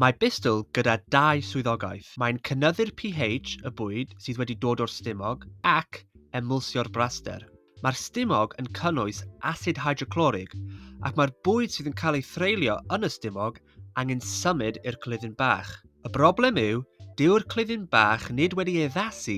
Mae Bistl gyda dau swyddogaeth. Mae'n cynyddu'r pH y bwyd sydd wedi dod o'r stumog ac emwlsio'r braster. Mae'r stumog yn cynnwys asid hydroclorig ac mae'r bwyd sydd yn cael ei threulio yn y stumog angen symud i'r clydyn bach. Y broblem yw, dyw'r clydyn bach nid wedi addasu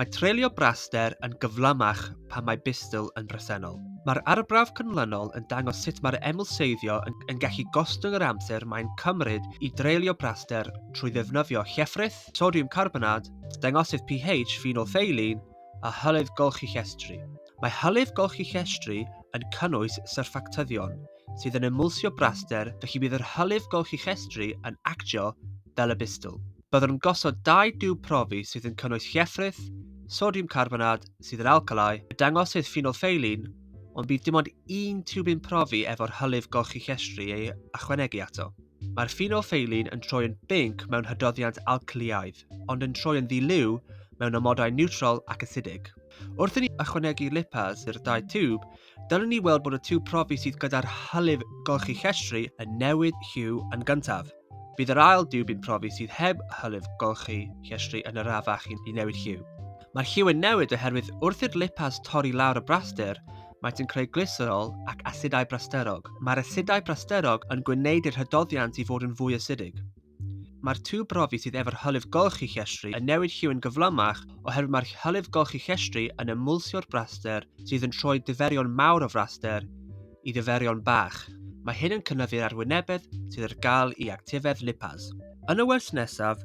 Mae treulio braster yn gyflymach pan mae bystl yn bresennol. Mae'r arbrawf cynlynol yn dangos sut mae'r emwlseiddio yn, yn gallu gostwng yr amser mae'n cymryd i dreulio braster trwy ddefnyddio llefrith, sodiwm carbonad, dangosydd pH ffenolfeilin a hylif golchi llestri. Mae hylif golchi llestri yn cynnwys syrffactyddion, sydd yn ymwlsio braster felly bydd yr hylif golchichestri yn actio fel y bistol. Byddwn gosod dau diwb profi sydd yn cynnwys llefrith, sodiwm carbonad sydd yn alcalau, y dangosydd ffenolffeilin, ond bydd dim ond un tiwbyn profi efo'r hylif golchichestri ei ychwanegu ato. Mae'r ffenoffeilin yn troi yn binc mewn hydoddiant alcliaidd, ond yn troi yn ddi-liw mewn amodau niwtral ac asidig. Wrth i ni ychwanegu lipaz i'r dau tiwb, dylwn ni weld bod y tiwb profi sydd gyda'r hylif golchi llestri yn newid lliw yn gyntaf. Bydd yr ail diwb i'n profi sydd heb hylif golchi llestri yn arafach i newid lliw. Mae'r lliw yn newid oherwydd wrth i'r lipaz torri lawr y braster, Maent yn creu glyserol ac asidau brasterog. Mae'r asidau brasterog yn gwneud i'r hydoddiant i fod yn fwy asidig. Mae'r tŵ brofi sydd efo'r hylif golchi llestri yn newid lliw yn gyflymach oherwydd mae'r hylif golchi llestri yn ymwlsio'r braster sydd yn troi diferion mawr o fraster i ddiferion bach. Mae hyn yn cynyddu'r arwynebedd sydd ar gael i actifedd lipaz. Yn y wers nesaf,